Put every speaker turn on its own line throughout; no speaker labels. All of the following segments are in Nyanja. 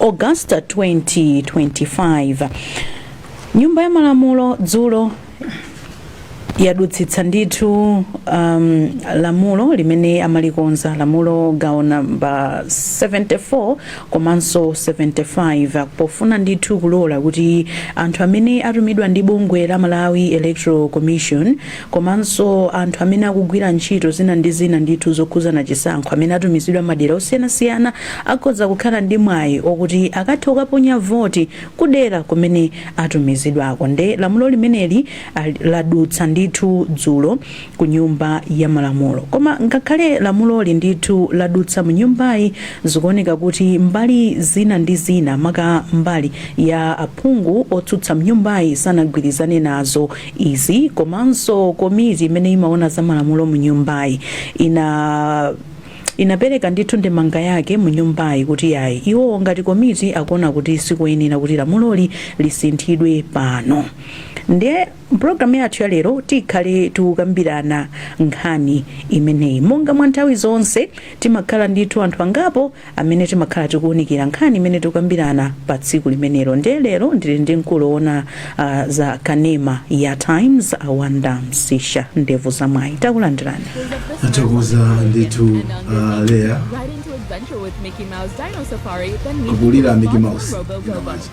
August 2025 nyumba ya malamulo dzulo yadutsitsa ndithu um, lamulo limene amalikonza lamulo gawo namba 74 komanso 75 pofuna ndithu kulola kuti anthu amene atumidwa ndi bungwe la malawi electoral commission komanso anthu amene akugwira ntchito zina ndi zina ndithu zokhudzana chisankho amene atumizidwa madera osiyanasiyana akhoza kukhala ndi mwayi okuti akathe kukaponya voti kudera kumene atumizidwako nde lamulo limeneli ali- ladutsa ndithu dzulo ku nyumba ya malamulo koma ngakhale lamuloli ndithu ladutsa mu nyumbayi zikuoneka kuti mbali zina ndi zina maka mbali ya aphungu otsutsa mnyumbayi sanagwirizane nazo izi komanso komiti imene imaona za malamulo mu nyumbayi ina inapereka ndithu ndemanga yake mu nyumbayi kuti yayi iwo ngati komiti akuona kuti sikuyenera kuti lamuloli lisinthidwe pano ndiye mpulogalamu yathu ya lero tikhale tikukambirana nkhani imeneyi monga mwa nthawi zonse timakhala ndithu anthu angapo amene timakhala tikuunikira nkhani imene tikukambirana pa tsiku limenelo ndiye lero ndili ndi mkulu owona uh, za kanema ya times awanda msisha ndevu za mwayi takulandirani athokoza
ndithu uh, leya Right into adventure with Mickey Mouse Dino Safari, then meet Kulira the Mickey Mouse. Robo Dino Bobo. Mouse.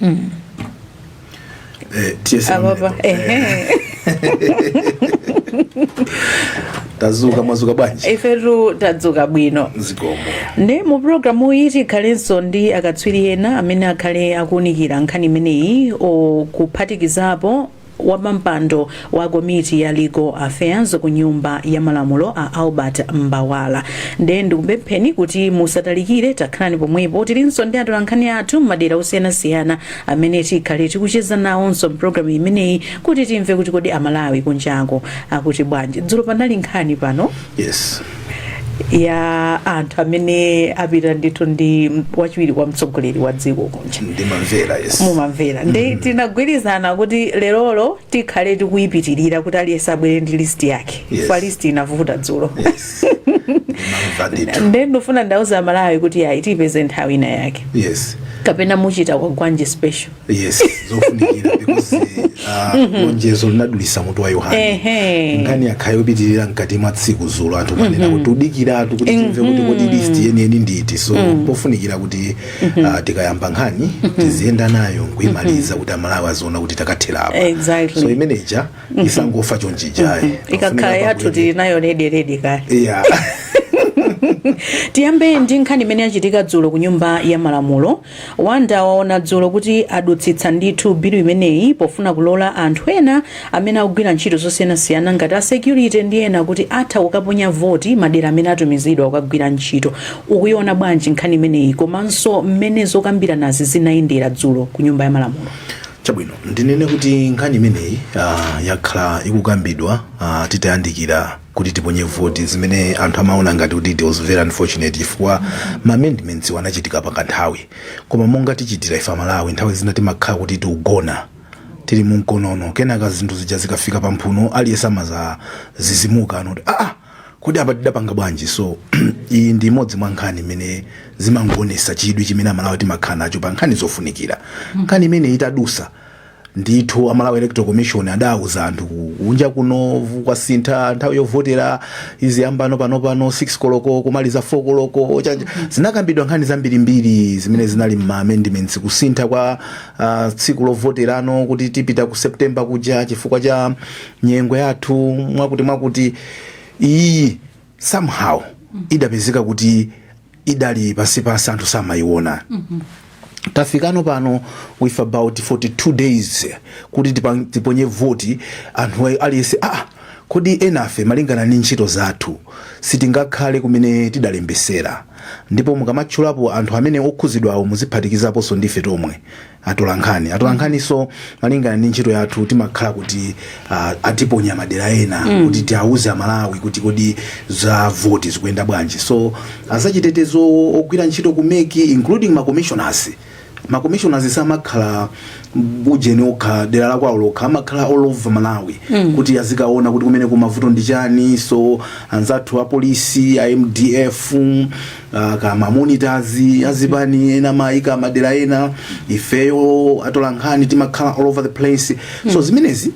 mm. eh, ababa ehe tadzuka mwadzuka bwanji ifetu
tadzuka bwino zikomo
nde mu
programu iyi tikhalenso ndi akatswiri ena amene akhale akuunikira nkhani imeneyi okuphatikizapo Wapampando wa komiti ya Legal Affairs ku nyumba ya malamulo a Albert Mbawala. Nde ndikupempheni kuti musatalikire dakhalani pomwepo tilinso ndi atolankhani athu m'madera osiyanasiyana amene tikhale tikucheza nawonso mpulogalamu imeneyi kuti timve kuti kodi amalawi kunjako akuti bwanji. Dzulo panali nkhani pano Yes. ya anthu amene apita ndithu ndi wachiwiri kwa mtsogoleri wa dziko kunja ndimamvera yes
mumamvera nde
tinagwirizana kuti lerolo tikhale tikuyipitirira kuti aliyense abwere ndi list yake Yes. kwa list inavuta dzulo
yes
ndimamva ndithu nde ndofuna ndiwauze amalawi kuti ayi tipeze nthawi ina yake yes kapena
mu
kwagwanji special
yes zofunikira because ah, lonjezo linadulisa mutu wa yohane Ehe. nkhani yakhayo yopitirira mkati mwa tsiku dzulo anthu amanena kuti tikudikiratu kuti timve kuti kodi list yeniyeni ndi iti so pofunikira kuti ah, tikayamba nkhani tiziyenda nayo nkuimaliza kuti amalawi aziona kuti takatherapo Exactly. so imeneja
isangofa
chonchijayi
ikakhala yathu tili nayo
rederede
kale yeah. tiyambe ndi nkhani imene yachitika dzulo ku nyumba ya malamulo Wanda waona dzulo kuti adutsitsa ndithu bilu imeneyi pofuna kulola anthu ena amene akugwira ntchito zosiyanasiyana ngati a security ndi ena kuti atha kukaponya voti madera amene atumizidwa kukagwira ntchito. Ukuiona bwanji nkhani imeneyi komanso mmene zokambiranazi zinayendera dzulo ku Nyumba ya Malamulo? Chabwino,
ndinene kuti nkhani imeneyi ah, yakhala ikukambidwa ah, titayandikira kuti tiponye voti zimene anthu amaona ngati kuti it was very unfortunate chifukwa ma amendments iwo anachitika pa kanthawi koma monga tichitira ife amalawi nthawi zina timakhala kuti tikugona tili mu mkonono kenaka zinthu zija zikafika pa mphuno aliyense amazazizimuka n'noti aa kodi apa tidapanga bwanji so iyi ndi imodzi mwa nkhani imene zimangoonesa chidwi chimene amalawi timakhala nacho pa nkhani zofunikira nkhani imene itadusa ndithu a Malawi electoral commission adauza anthu kunja kuno vu- kwasintha nthawi yovotera iziyamba no panopano 6 koloko kumaliza 4 koloko chanja zinakambidwa nkhani zambirimbiri zimene zinali mma amendments kusintha kwa uh, tsiku lovoterano kuti tipita ku september kuja chifukwa cha nyengo yathu mwakuti mwakuti iyi somehow idapezeka kuti idali pansipansi anthu samayiona tafikano pano with about 42 days kuti tipa- tiponye voti anthu ayi- aliyense ah, kodi enafe malingana ndi ntchito zathu sitingakhale kumene tidalembesera ndipo mukamatchulapo anthu amene okhuzidwawo muziphatikizaponso ndife tomwe atolankhani atolankhaniso malingana ndi ntchito yathu timakhala kuti uh, atiponya madera ena mm. kuti tiauze amalawi kuti kodi za voti zikuyenda bwanji so azachitetezo ogwira ntchito ku MEC including ma commissioners ma commissioners samakhala ujeni okha dera la kwawo lokha amakhala all over malawi mm. kuti azikaona kuti kumene kumavuto ndi chani so anzathu apolisi a mdf ah, ka mamonitors azipani amawayika madera ena ifeyo atolankhani timakhala all over the place so zimenezi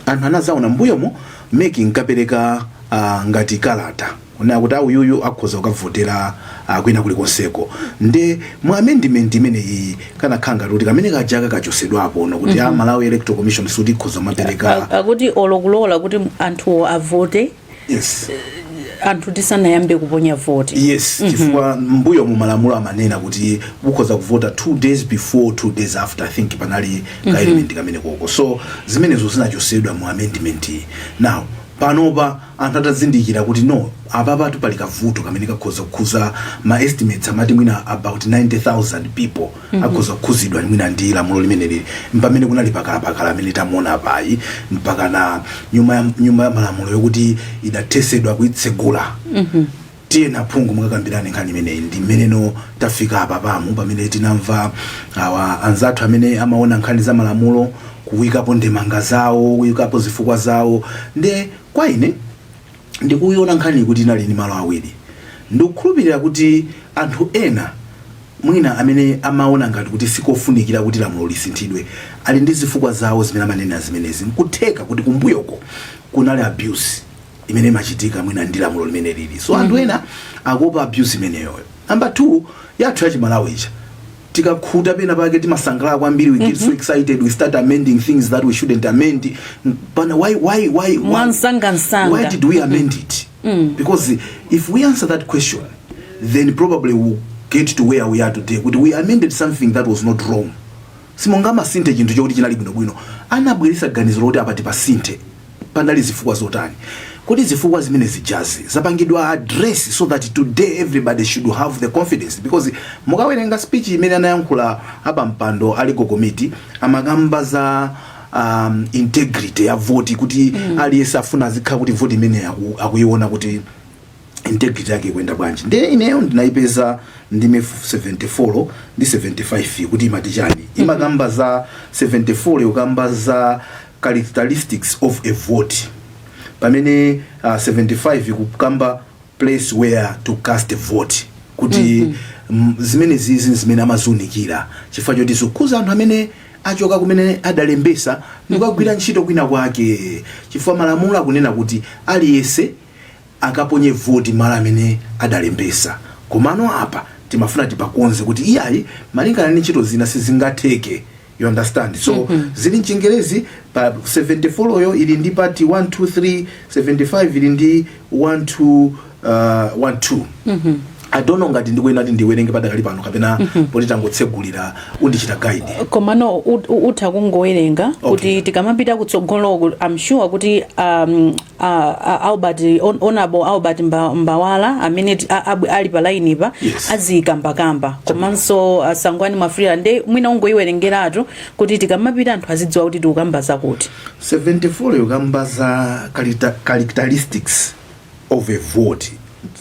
anthu anazaona mbuyomo MEC inkapereka ah, ngati kalata yonena kuti awuyuyu akhoza kukavotera ah, kwina kulikonseko nde mu amendment imene iyi kanakhala ngati kuti kamene kajaka kachosedwapo no kuti a malawi electoral commission sikuti ikhoza kumapereka A- akuti olokulola
kuti anthuwo avote
yes
anthu tisanayambe kuponya voti yes
chifukwa mbuyomu malamulo amanena kuti mukhoza kuvota two days before two days after i think panali ka element kamenekoko so zimenezo zinachosedwa mu amendment iyi. now panopa anthu atazindikira kuti no apapatu pali kavuto kamene kakhoza kukhuza ma estimates amati mwina about 90000 people akhoza kukhuzidwa mwina ndi lamulo limeneli mpamene kunali pakalapakala amene tamuona apayi mpaka na nyumba ya- nyumba ya malamulo yokuti idathesedwa kuitsegula tiyeni aphungu mukakambirane nkhani imeneyi ndi mmenenso tafika apa pamu pamene tinamva awa anzathu amene amaona nkhani za malamulo kuwikapo ndemanga zawo kuwikapo zifukwa zawo nde kwa ine ndikuiona nkhaniyi kuti inali ndi malo awiri ndikukhulupirira kuti anthu ena mwina amene amaona ngati kuti sikofunikira kuti lamulo lisinthidwe ali ndi zifukwa zawo zimene amanena zimenezi nkutheka kuti kumbuyoko kunali abuse imene imachitika mwina ndi lamulo limene lili so anthu ena akuopa abuse imeneyoyo namba two yathu yachimalawi ija tikakhuta pena pake timasangalala kwambiri we get so excited we start amending things that we shouldn't amend but why why why mwamsangamsanga why did we amend it because if we answer that question then probably we'll get to where we are today kuti we amended something that was not wrong simungamasinthe chinthu chokuti chinali bwinobwino anabweresa ganizo loti apa tipasinthe Panali zifukwa zotani? Kodi zifukwa zimene zijazi zapangidwa address so that today everybody should have the confidence because mukawerenga speech imene anayankhula a pampando a legal committee amakamba za um, integrity ya voti kuti mm. aliyense afuna azikhala kuti voti imene aku, akuiona kuti integrity yake ikuyenda bwanji nde ineyo ndinayipeza ndime 74 ndi 75 kuti imati chani mhm. imakamba za 74 yo ikukamba za characteristics of a vote pamene uh, 75 ikukamba place where to cast a vote kuti mm -hmm. zimenezizi zimene amazunikira chifukwa choti zokhuza anthu amene achoka kumene adalembesa ndikukagwira mhm. ntchito kwina kwake chifukwa malamulo akunena kuti aliyense akaponye voti malo amene adalembesa komano apa timafuna tipakonze kuti iyayi malingana ndi ntchito zina sizingatheke you understand so zili mchingerezi pa 74 yo ili ndi part 1 2 3 75 ili ndi 1 2 uh, 1 2 i don't know ngati ndikuyenera kuti ndiwerenge padakali pano kapena poti tangotsegulira undichite guide komano ut-
ut- utha kungowerenga kuti tikamapita kutsogoloko i'm sure kuti um, a, a Albert on, honorable Albert Mba- Mbawala amene ti- a- ab- ali pa line pa Yes. azikambakamba komanso a Sangwani Mwafulirwa nde mwina ungoyiwerengeratu kuti tikamapita anthu azidziwa kuti tikukamba zakuti
74 yo ikukamba za character- characteristics of a vote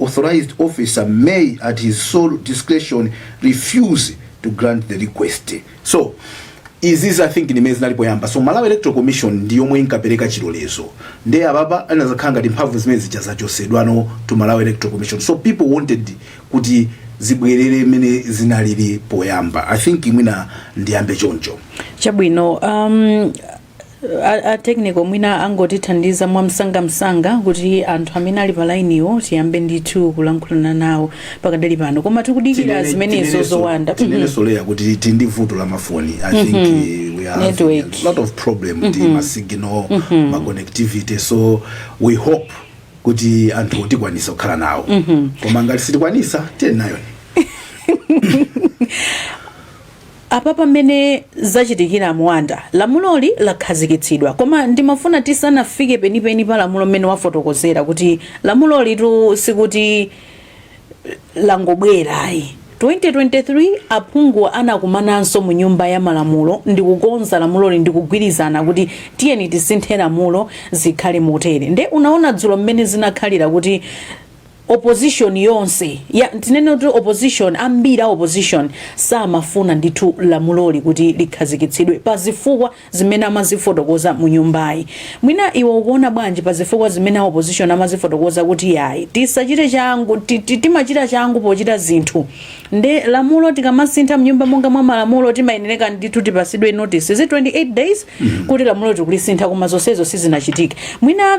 authorized officer may at his sole discretion refuse to grant the request so izizi i think ndimene zinali poyamba so malawi electoral commission ndi yomwe inkapereka chilolezo nde apapa anazakhala ngati mphamvu zimene zija zachosedwa no to malawi electoral commission so people wanted kuti zibwerere mmene zinalili poyamba i think mwina ndiyambe choncho chabwino
um, A, a technical mwina angotithandiza mwamsangamsanga kuti anthu amene ali pa lainiwo tiyambe ndithu kulankhulana nawo pakadali pano koma tikudikira zimenezo Mwanda Mhm. tinenesoleya kuti tili
ndi vuto la mafoni i think Mhm. eh, we are having Network. a lot of problem ndi Mhm. ma signal Mhm. ma connectivity so we hope kuti anthu tikwanisa kukhala nawo Mhm. koma ngati sitikwanisa tiye nayo
Apapa mmene zachitikira Mwanda, lamuloli lakhazikitsidwa koma ndimafuna tisanafike penipeni pa lamulo mmene wafotokozera kuti lamulolitu sikuti langobwera ayi, 2023 aphunguwa anakumananso mu nyumba ya malamulo ndikukonza lamuloli ndikugwirizana kuti tiyeni tisinthe lamulo zikhale motere nde unaona dzulo mmene zinakhalira kuti opposition yonse ya tinene kuti opposition ambiri a opposition samafuna ndithu lamuloli kuti likhazikitsidwe pa zifukwa zimene amazifotokoza mu nyumbayi mwina iwe ukuona bwanji pa zifukwa zimene a opposition amazifotokoza kuti yayi tisachite changu ti- ti- timachita changu pochita zinthu nde lamulo tikamasintha mnyumba monga mwa malamulo timayenereka ndithu tipasidwe notice is it 28 days kuti lamulo tikulisintha koma zonsezo sizinachitike mwina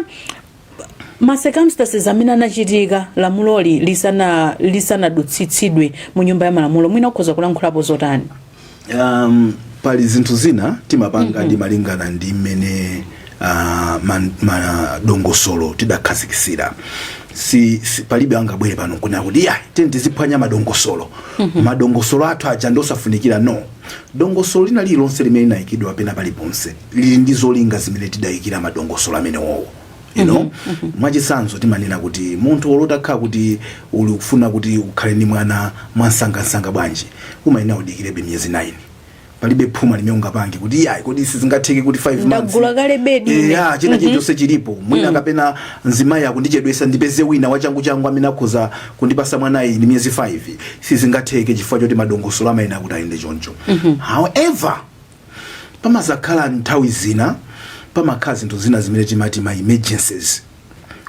ma circumstances amene anachitika lamuloli lisana lisanadutsitsidwe mu nyumba ya malamulo mwina ukhoza kulankhulapo zotani um,
pali zinthu zina timapanga ndi malingana ndi mmene uh, man- madongosolo tidakhazikisira si, si palibe angabwere pano kunena kuti ya tiyeni tiziphwanya madongosolo madongosolo athu aja ndi osafunikira no Dongosolo lina lililonse limene linayikidwa pena paliponse lili ndi zolinga zimene tidayikira madongosolo amenewowo you know mm -hmm. mwachisanzo timanena kuti munthu olo utakhala kuti uli kufuna kuti ukhale ndi mwana mwamsangamsanga bwanji umayenera udikirebe miyezi 9 palibe phuma limene ungapange kuti iyayi kodi sizingatheke kuti 5 months ndagula kale bedi ine.
ya china chilichonse
chilipo mwina kapena mzimayi akundichedwesa ndipeze wina wachangu changu amene akhoza kundipasa mwanayi ndi miyezi 5 sizingatheke chifukwa choti madongosolo amayenera kuti ayende choncho however pamazakhala nthawi zina pamakhala zinthu zina zimene timati ma emergencies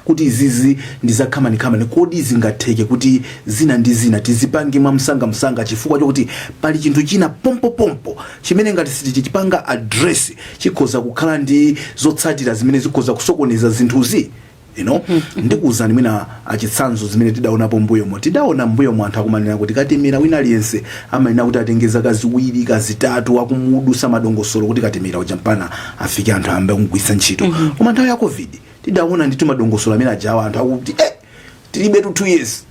kuti izizi ndizakhamanikamani kodi zingatheke kuti zina ndi zina tizipange mwamsangamsanga chifukwa chokuti pali chinthu china pompopompo chimene ngati sitichipanga address chikhoza kukhala ndi zotsatira zimene zikhoza kusokoneza zinthuzi you know ndikuwuzani mwina achitsanzo zimene tidaonapo mbuyomo tidaona mbuyomo anthu akumanena kuti katemera wina aliyense amanena kuti atenge zaka ziwiri kaya zitatu akumudusa madongosolo kuti katemera uja mpaka afike anthu ayambe kumugwiritsa ntchito koma nthawi ya covid tidaona ndithu madongosolo amene ajawa anthu akuti eh, tilibe tu two years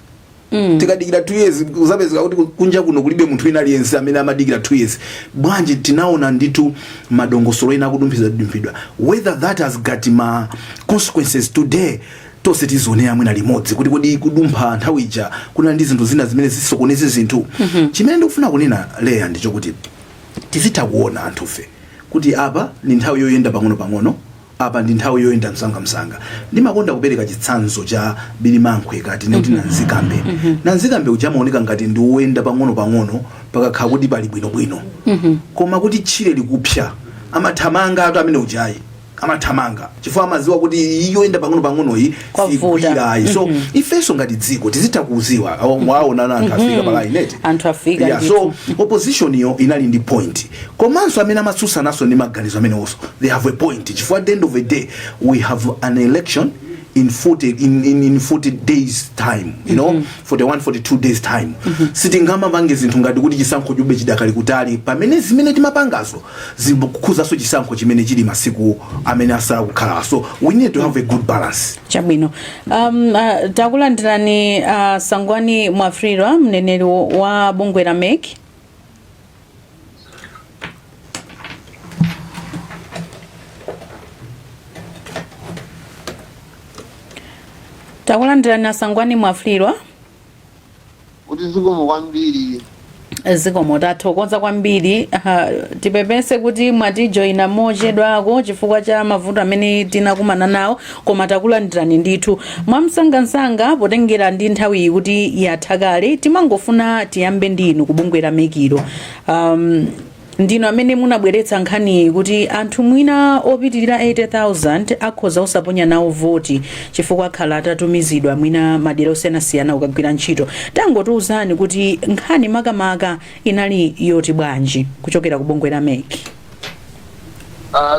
tikadikira 2 years kuzapezeka kuti kunja kuno kulibe munthu wina aliyense amene amadikira 2 years bwanji tinaona ndithu madongosolo ena akudumphidwadumphidwa whether that has got ma consequences today tonse tizionera mwina limodzi kuti kodi kudumpha nthawi ija kunali ndi zinthu zina zimene zisokoneze zinthu chimene ndikufuna kunena here ndichokuti tizitha kuona anthufe kuti apa ndi nthawi yoyenda pang'ono pang'ono Apa ndi nthawi yoyenda msangamsanga. Ndimakonda kupereka chitsanzo cha Birimankhwe ka timati Nanzikambe. Nanzikambe uja amaoneka ngati ndi woyenda pang'onopang'ono pakakhala kuti pali bwinobwino. Koma kuti tchire likupsa, amathamangatu amene uja ayi. Amathamanga chifukwa amadziwa kuti iyi yoyenda pang'onopang'onoyi Kwavuta. sigwira iyayi. So ifenso ngati dziko tizitha kudziwa kuona anthu afika pa line eti. Anthu afika Yeah, ndithu. so
opposition
yo inali ndi point Komanso amene amatsutsananso ndi maganizo amenewonso they have a point chifukwa at the end of the day we have an election in 40 in, in, in 40 days time you know 41 42 days time sitingamapange zinthu ngati kuti chisankho chube chidakali kutali pamene zimene timapangazo zikukhuzanso chisankho chimene chili masiku amene asala kukhala so we need to have a good balance chabwino
um, uh, takulandirani a sangwani mwafulirwa mneneri wa bungwe la mec takulandirani asangwani mwafulirwa
kuti zikomo kwambiri zikomo
tathokoza kwambiri Aha, tipepese kuti mwatijoyina mochedwako chifukwa cha mavuto amene tinakumana nawo Koma takulandirani ndithu mwamsangansanga potengera ndi nthawiyi kuti yatha kale timangofuna tiyambe ndi inu ku bungwe la mec lo um, ndinu amene munabweretsa nkhaniyi kuti anthu mwina opitirira 80000 akhoza osaponya nawo voti chifukwa akhala atatumizidwa mwina madera osiyanasiyana kukagwira ntchito tangotiuzani kuti nkhani makamaka inali yoti bwanji kuchokera ku bungwe la mec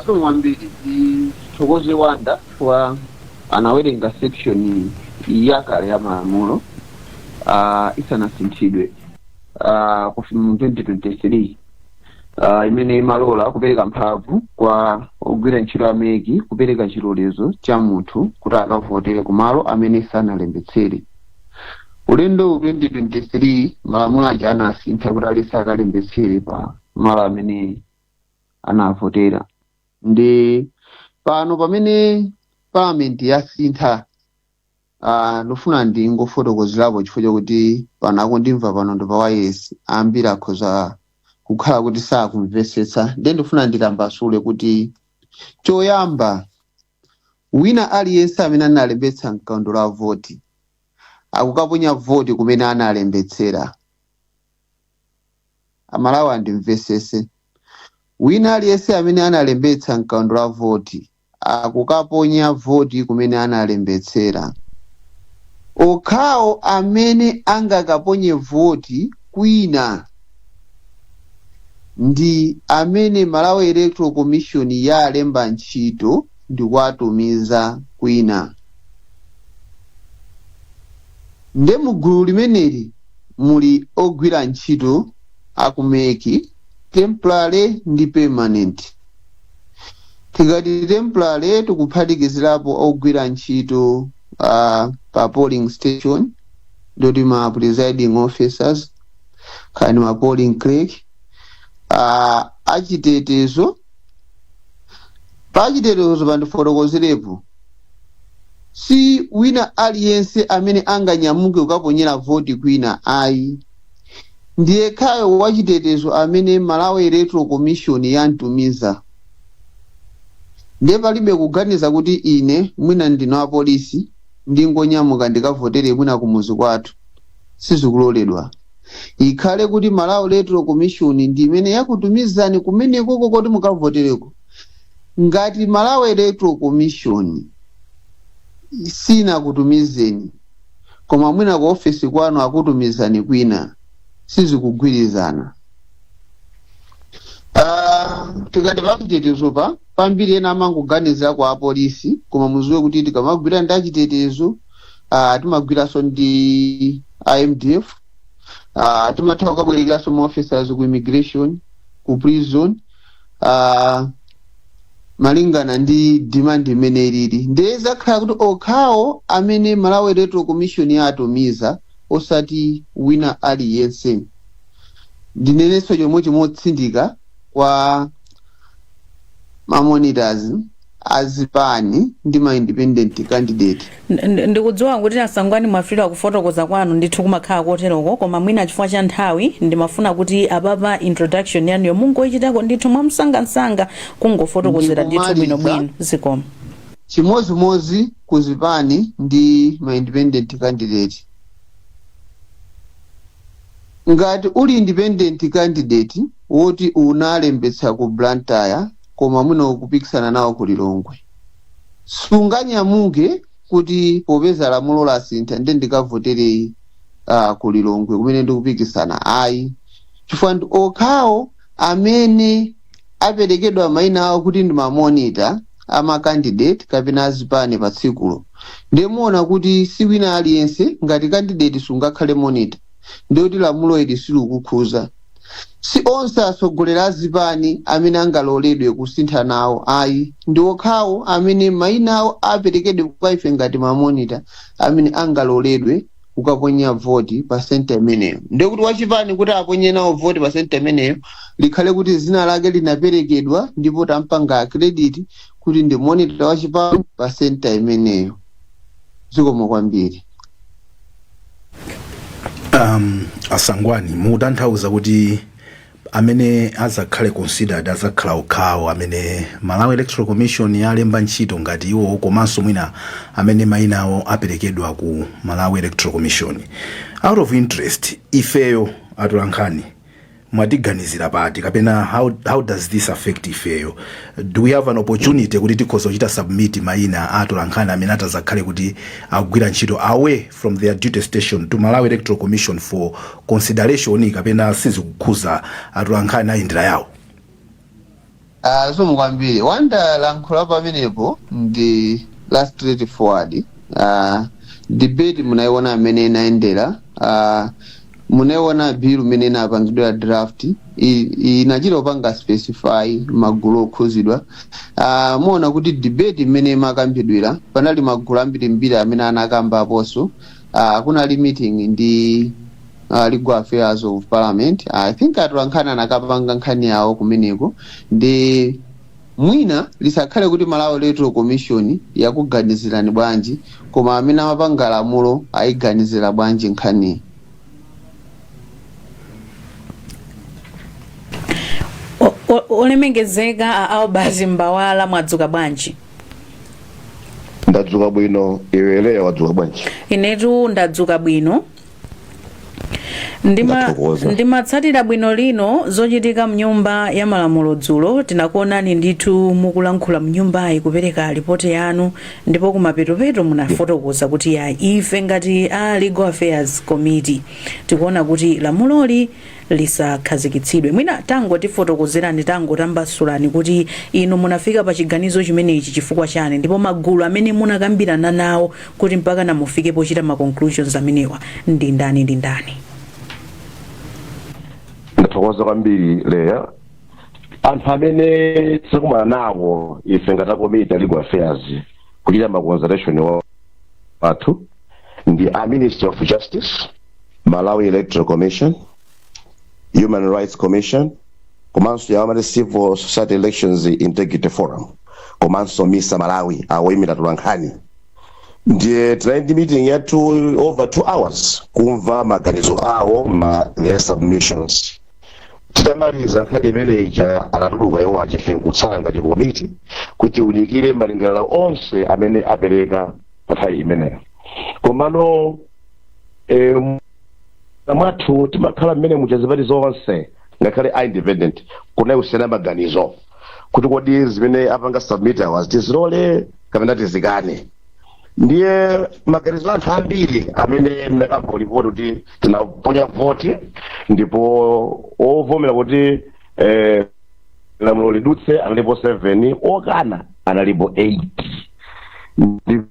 Zikomo kwambiri tithokoze wanda chifukwa anawerenga section yakale ya malamulo uh, isanasinthidwe uh, kufika mu 2023 uh, imene imalora kupereka mphamvu kwa ogwira ntchito a mec kupereka chilolezo cha munthu kuti akavotere kumalo amene sanalembetsere ulendo 2023 malamulo aja anasintha kuti aliyense akalembetsere pa malo amene anavotera ndi pano pamene parliament yasintha ah, ndofuna ndingofotokozerapo chifukwa chakuti pano akundimva pano ndi pa wailesi ambiri akhoza kukhala kuti sakumvetsetsa ndiye ndifuna nditambasule kuti choyamba wina aliyense amene analembetsa mkaundula wa voti akukaponya voti kumene analembetsera Amalawi andimvetsetse. Wina aliyense amene analembetsa mkaundula wa voti akukaponya voti kumene analembetsera. Okhawo amene angakaponye voti kwina ndi amene Malawi Electoral Commission yalemba ntchito ndikuwatumiza kwina. nde mu gulu limeneli muli ogwira ntchito aku mec temporary ndi permanent tikati temporary tikuphatikizirapo ogwira ntchito uh, pa polling station ndoti ma presiding officers kani ma polling clerk uh, achitetezo pachitetezo pa ndifotokozerepo si wina aliyense amene anganyamuke kukaponyera voti kwina ayi ndi yekhayo wachitetezo amene malawi electoral commission yamtumiza ndiye palibe kuganiza kuti ine mwina ndine wapolisi ndingonyamuka ndikavotere mwina kumuzi kwathu sizikuloledwa ikhale kuti malawi electoral commission ndi imene yakutumizani kumenekoko kuti mukavotereko ngati malawi electoral commission sinakutumizeni koma mwina ku ofesi kwanu akutumizani kwina sizikugwirizana Ah, tikati pachitetezo pa pambiri ena amangoganiza kuti apolisi koma mudziwe kuti tikamagwira ndi achitetezo uh, timagwiranso ndi a mdf uh, timatha kukabwerekeranso ma officers ku immigration ku prison uh, malingana ndi demand mmene ilili ndiye zidzakhala kuti okhawo amene malawi electoral commission yatumiza osati wina aliyense ndinenenso chomwecho motsindika kwa mamonitors a zipani ndi ma independent candidate.
Ndikudziwa kuti a Sangwani Mwafulirwa kufotokoza kwanu ndithu kumakhala koteroko koma mwina chifukwa cha nthawi ndimafuna kuti apapa introduction yanuyo mungoichitako ndithu mwamsangansanga kungofotokozera ndithu bwinobwino. Zikomo.
chimozimozi ku zipani ndi ma independent candidate ngati uli independent candidate woti unalembetsa ku blantyre koma mwina ukupikisana nawo ku lilongwe sunganyamuke kuti popeza lamulo lasintha nde ndikavotere uh, ku lilongwe kumene ndikupikisana ayi chifukwa ndi okhawo amene aperekedwa maina awo kuti ndi mamonita amakandidate kapena azipani pa tsikulo nde muona kuti si wina aliyense ngati kandidate sungakhale monita ndikuti lamulo ili silikukhuza si onse atsogoleri a zipani amene angaloledwe kusintha nawo ayi ndi okhawo amene mayina awo aperekedwe kwa ife ngati mamonita amene angaloledwe kukaponya voti pa senta imeneyo ndiye kuti wachipani kuti aponye nawo voti pa senta imeneyo likhale kuti zina lake linaperekedwa ndipo tampanga accredit kuti ndi monita wachipani pa senta imeneyo zikomo kwambiri
um, asangwani mutanthauza kuti amene azakhale considered azakhala okhawo amene malawi electoral commission yalemba ntchito ngati iwowo komanso mwina amene mayina awo aperekedwa ku malawi electoral commission out of interest ifeyo atolankhani mwatiganizira pati kapena how does this affect ifeyo do we have an opportunity kuti tikhoza kuchita submit maina a atolankhani amene atazakhale kuti agwira ntchito away from their duty station to malawi electoral commission for consideration kapena sizikukhuza atolankhani ayendera yawo Ah,
zikomo kwambiri Wonder lamulo pamenepo ndi la straight forward ah, debate munayiona mmene inayendera ah, munayiona bill mmene inapangidwa draft i- i- inachita kupanga specify magulu okhuzidwa ah, muona kuti debate mmene imakambidwira panali magulu ambirimbiri amene anakamba aponso uh, kunali meeting ndi uh, legal affairs of parliament i think atolankhani anakapanga nkhani yawo kumeneko nde mwina lisakhale kuti malawi electoral commission yakuganizirani bwanji koma amene amapanga lamulo ayiganizira bwanji nkhani
olemekezeka a albert mbawala mwadzuka bwanji
ndadzuka bwino iwe Leya wadzuka bwanji inetu
ndadzuka bwino Ndima- Ndathokoza. ndimatsatira bwino lino zochitika mnyumba ya malamulo dzulo tinakuonani ndithu mukulankhula mnyumbayi kupereka ripoti yanu ndipo kumapeto-peto munafotokoza kuti ya ife ngati a legal affairs committee tikuona kuti lamuloli lisakhazikitsidwe. Mwina tangotifotokozerani, tangotambasulani kuti inu munafika pa chiganizo chimenechi chifukwa chani ndipo magulu amene munakambirana nawo kuti mpakana mufike pochita ma conclusions amenewa ndi ndani ndi ndani?
ndathokoza kwambiri leya anthu amene tinakumana nawo ife ngati akomiti a legal affairs kuchita ma consultation wa- wathu ndi a ministry of justice malawi electoral commission human rights commission komanso awa amati civil society elections integrity forum komanso misa malawi awoyimira atolankhani ndiye tinali ndi meeting ya over two hours kumva maganizo awo ma their submissions titamaliza nkhani imene ija anatuluka iwo enafe nkutsala ngati komiti kuti tiunikire malingaliro onse amene apereka pa nthawi imeneyo komano eh, mwathu timakhala mmene muja zipani zonse ngakhale a independent kunali kusiyana maganizo kuti kodi zimene apanga submit awazi tizilole kapena tizikane ndiye maganizo anthu ambiri amene ndinakamba mu lipoti kuti tinaponya voti ndipo ovomera kuti eh, lamulo lidutse analipo 7 okana analipo 8 Ndi-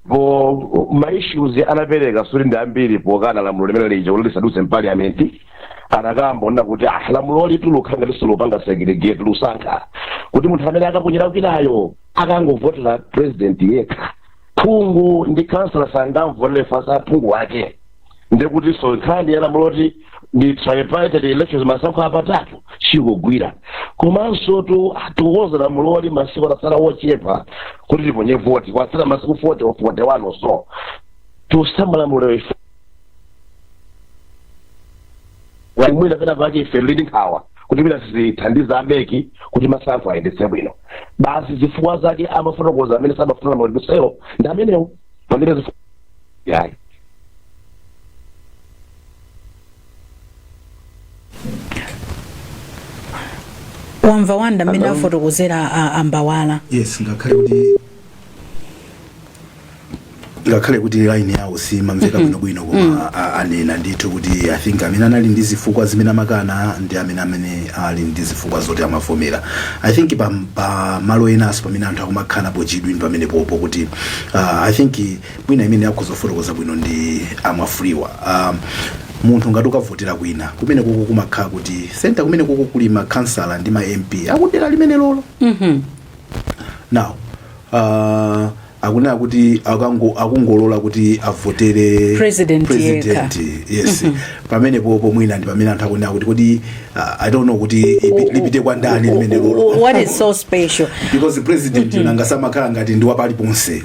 po maissues anapereka sikuti ndi ambiri pokana lamulo limene lija kuti lisadutse mpaliyamenti anakamba onena kuti ah lamulo likukhala ngati ndi lopanga segregate losankha kuti munthu amene akaponyera kwinayo akangovotera president yekha phungu ndi khansala sangamvotere fanza phungu wake ndekutinso nkhani ya lamulo loti ndi tripartite elections masankho apatatu sikugwira komanso tikukonza lamuloli masiku atatsala ochepa kuti tiponye voti kwatsala masiku 40 or 41 or so tikusintha lamulo ife mwina pena pake ife tili ndi nkhawa kuti mwina sizithandiza a MEC kuti masankho ayendetse bwino basi zifukwa zake amafotokoza amene samafuna lamulo lidutselo ndi amenewo pamene zifukwa yayi
wamva Wonder mmene Hello? afotokozera a- a Mbawala yes ngakhale kuti
ngakhale kuti line yawo simamveka bwinobwino koma a- anena ndithu kuti i think amene anali ndi zifukwa zimene amakana ndi amene amene ali ndi zifukwa zoti amavomera i think pa, pa malo enanso pamene anthu akumakhala pachidwi ndi pamenepopo kuti uh, i think mwina amene akhoza kufotokoza bwino ndi a Mwafulirwa um, munthu ngati ukavotera kwina kumene koko kumakhala kuti senta kumene koko kuli makhansala ndi ma mp akudera limene lolo Mhm. now uh, akunena kuti akango- akungolola kuti avotere President
president
yes pamene popo mwina ndi pamene anthu akunena kuti kodi uh, i don't know kuti ipi- lipite kwa ndani limene lolo What is so special?
because president
nanga si amakhala ngati ndi wapaliponse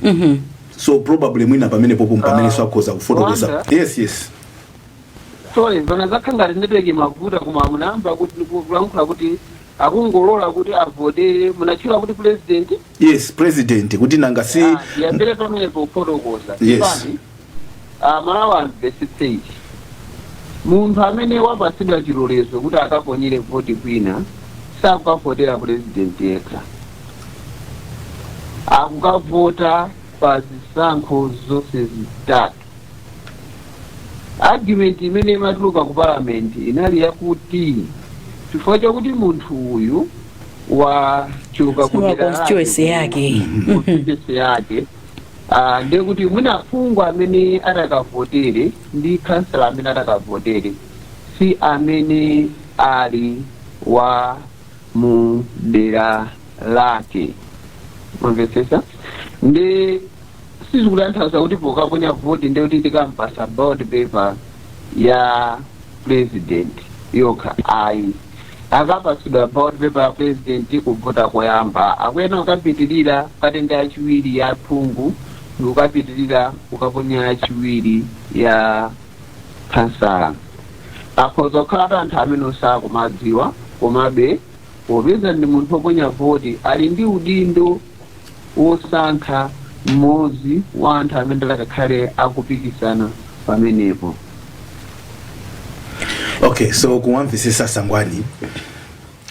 so probably mwina pamene popo mpamenenso akhoza kufotokoza Wonder. yes
yes sorry zona zakhala ngati ndipeke mavuta koma munayamba kuti kulankhula kuti akungolola kuti avotere munatchula kuti president yes president
kuti nanga si Ah, ndiyambire
pamenepo kufotokoza
Yes. Chipani, ah, Amalawi
amvetsetse ichi munthu amene wapatsidwa chilolezo kuti akaponyere voti kwina sakukavotera president yekha akukavota pa zisankho zonse zitatu argument imene imatuluka ku parliament inali yakuti chifukwa chakuti munthu uyu wachoka ku Wa dera constituency
yake. Mhm. constituency
yake ah, ndiye kuti mwina phungu amene atakavotere ndi kansala amene atakavotere si amene ali wa mu dera lake mwamvetsetsa ndi sizikutanthauza kuti pokaponya voti ndi kuti tikampasa ballot paper ya president yokha ayi akapasidwa ballot paper ya president kuvota koyamba akuyenera kukapitirira kukatenga yachiwiri ya phungu ndikukapitirira kukaponya yachiwiri ya Khansala. Akhoza kukhala ati anthu amene sakuwadziwa komabe popeza ndi munthu oponya voti ali ndi udindo wosankha mmodzi wa anthu amene atakakhale akupikisana
pamenepo. Okay, so kuwamvesesa Sangwani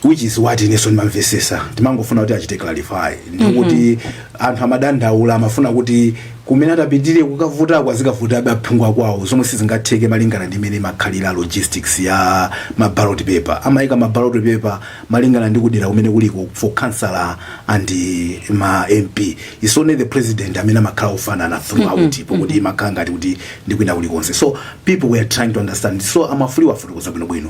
which is what ineso ndimamvesesa ndimangofuna kuti achite clarify ndikuti anthu amadandaula amafuna kuti kumene atapitire kukavotako azikavotabe aphungu akwawo zomwe sizingatheke malingana ndi mmene imakhalira logistics ya mabalot paper amayika mabalot paper malingana ndi kudera kumene kuliko for councillor and uh, ma mp it's only the president amene amakhala ofanana throughout pokuti imakhala ngati kuti ndi kwina kulikonse so people were trying to understand so amawafotokozera bwinobwino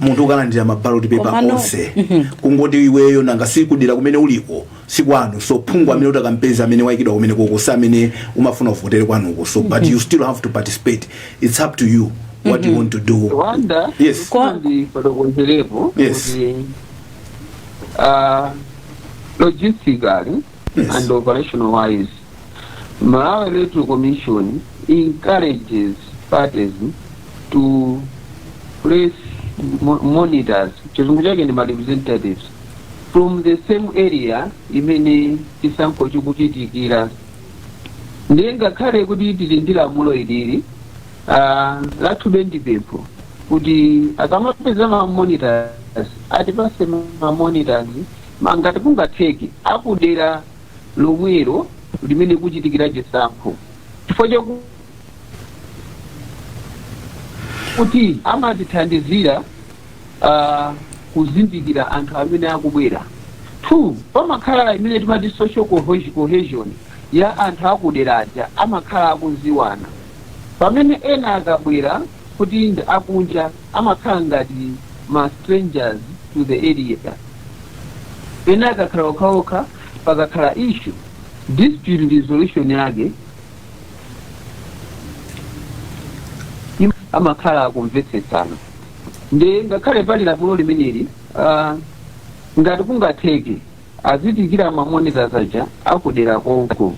munthu ukalandira mabaloti pepa Komano- onse kungoti iweyo nanga si kudera kumene uliko sikwanu so phungu amene utakampeze amene waikidwa kumenekoko si amene umafuna uvotere kwanuko so but you still have to participate it's up to you what you want to do rwanda Yes. Kwa- ndifotokozerepo Yes. kuti ah,
logistically Yes. and operational wise malawi electoral commission encourages parties to place mo- monitors chizungu chake ndi ma representatives from the same area imene chisankho chikuchitikira ndiye ngakhale kuti tili ndi lamulo ilili ah, athube ndi pempho kuti akamapeza ma monitors atipase ma monitors ah ngati kungatheke akudera lomwelo limene kuchitikira chisankho chifukwa chaku- kuti amatithandizira ah, kuzindikira anthu amene akubwera two pamakhala imene timati social cohe- cohesion ya anthu akudera aja amakhala akuziwana pamene ena akabwera kuti ndi akunja amakhala ngati ma strangers to the area pena akakhala okhaokha pakakhala issue dispute resolution yake im- amakhala akumvetsetsana ndiye ngakhale pali lamulo limeneli ah, ngati kungatheke azitenga ma monitors aja akudera konko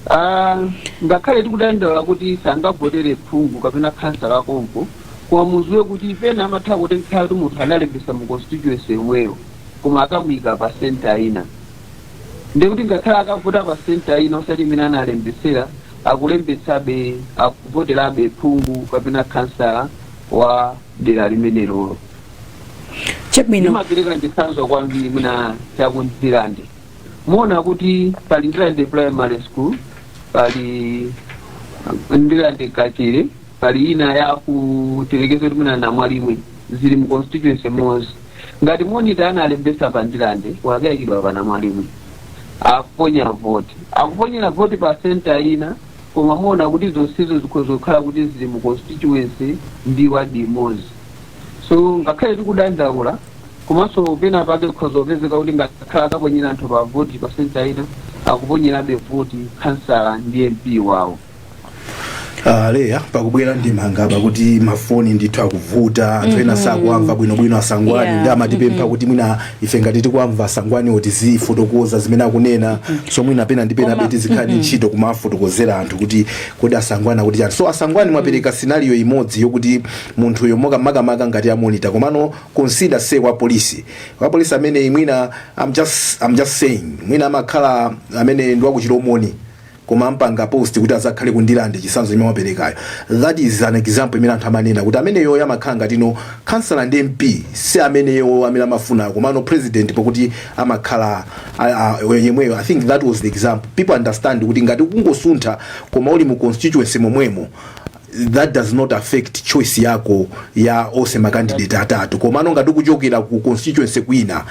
Ah, ngakhale tikudandaula kuti sangavotere phungu kapena khansala konko koma muziwe kuti pena amatha kutheka kuti munthu analembesa mu constituency yomweyo koma akamuyika pa senta ina ndiye kuti ngakhale akavota pa senta ina osati imene analembesera akulembetsabe akuvoterabe phungu kapena khansala wa dera limenelolo
chabwino ndimapereka
chitsanzo kwambiri mwina chakundirande muona kuti pali ndirande primary school pali ndirande kachire pali ina ya kutelekeza kuti mwina namwalimwe zili mu constituency imozi ngati monita analembesa pa ndirande wakayikidwa pa namwalimwe akuponya voti akuponyera voti pa senta ina Koma muona kuti zonsezo zikhoza kukhala kuti zili mu constituency ndi ward imodzi. So ngakhale tikudandaula komanso pena pake kukhoza kupezeka kuti ngakhale akaponyera anthu pa voti pa center ina akuponyerabe voti khansala ndi MP wawo.
Ah, leya pakubwera ndemanga pakuti mafoni ndithu akuvuta anthu ena sakuwamva bwinobwino a Sangwani Yeah. ndi amatipempha kuti mwina ife ngati tikuwamva a Sangwaniwo tizifotokoza zimene akunena so mwina pena ndi penabe tizikhala ndi ntchito kumafotokozera anthu kuti kodi a Sangwani akuti chani so a Sangwani mwapereka scenario imodzi yokuti munthuyo maka makamaka ngati amonita komano consider say wa polisi wa polisi amene mwina I'm just, I'm just saying mwina amakhala amene ndi waku Chilomoni koma ampanga post kuti azakhale ku ndilande chisanzo chimene wapelekayo that is an example imene anthu amanena kuti ameneyoyo amakhala ngati no khansala ndi mp si ameneyo amene amafuna komano president pokuti amakhala a- a- yemweyo i think that was the example people understand kuti ngati kungosuntha koma uli mu constituency momwemo that does not affect choice yako ya ose makandidate atatu komano ngati ukuchokera ku constituency kwina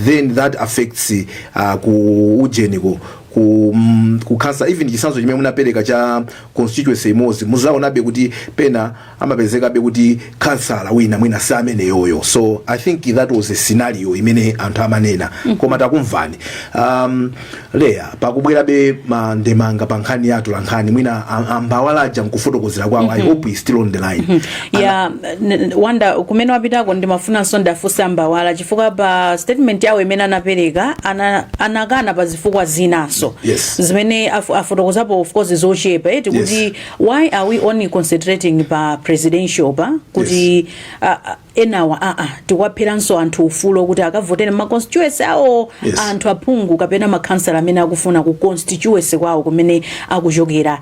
then that affects uh, kuujeniko ku mm, ku khansa even chisanzo chimene munapereka cha constituency imodzi muzaonabe kuti pena amapezekabe kuti khansala wina mwina si ameneyoyo so i think that was a scenario imene anthu amanena koma takumvani um, leya pakubwerabe mandemanga pa nkhani ya atolankhani mwina am- a Mbawala aja mkufotokozera kwawo i hope he's still on the line ya n-
n- wanda kumene wapitako ndimafunanso ndiafunse a Mbawala chifukwa pa statement yawo imene anapereka ana- anakana pa zifukwa zinanso Yes. zimene
afu-
afotokozapo of course zochepa eti Yes. kuti why are we only concentrating pa presidential pa kuti ah, ah, enawa aa tikuwapheranso anthu ufulo kuti akavotere ma constituency awo Yes. anthu aphungu kapena makhansala amene akufuna ku constituency kwawo kumene akuchokera